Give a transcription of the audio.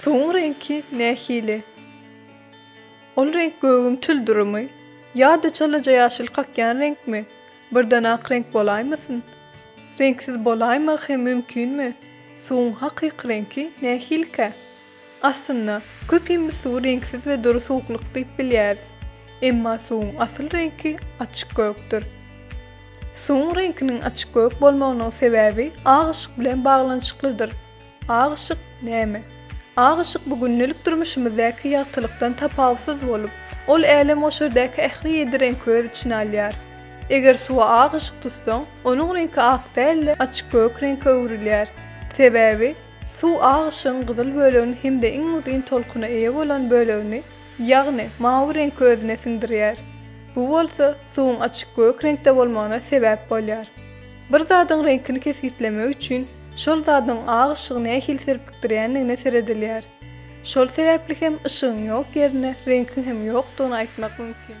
Suwuň reňki nähili? Ol reňk gögüň tüldürimi? Ýa-da çalaja ýaşyl kakýan reňkmi? Birden ak reňk bolaýmasyn? Reňksiz bolaýmagy hem mümkinmi? Suwuň hakyky reňki nähilikä? Aslynda, köpimiz suwy reňksiz we dury suwuklyk diýip bilýäris. Emma suwuň asyl reňki açyk gökdür. Suwuň reňkiniň açyk gök bolmagynyň sebäbi agyşyk bilen baglanyşyklydyr. Ak yşyk näme? Ak yşyk bu gündelik durmuşymyzdaky ýagtylykdan tapawutsyz bolup, ol älemgoşardaky ähli ýedi reňki öz içine alýar. Eger suwa ak yşyk tutsaň, onuň reňki ak däl-de, açyk gök reňke öwrülýär. Sebäbi, suw ak yşygyň gyzyl bölegini hem-de iň uzyn tolkuna eýe bolan bölegini, ýagny mawy reňki özüne siňdirýär. Bu bolsa, suwuň açyk gök reňkde bolmagyna sebäp bolýar. Bir zadyň reňkini kesgitlemek üçin şol zadyň ak yşygy nähili serpikdirýändigine seredilýär. Şol sebäpli hem yşygyň ýok ýerine reňkiň hem ýokdugyny aýtmak mümkin.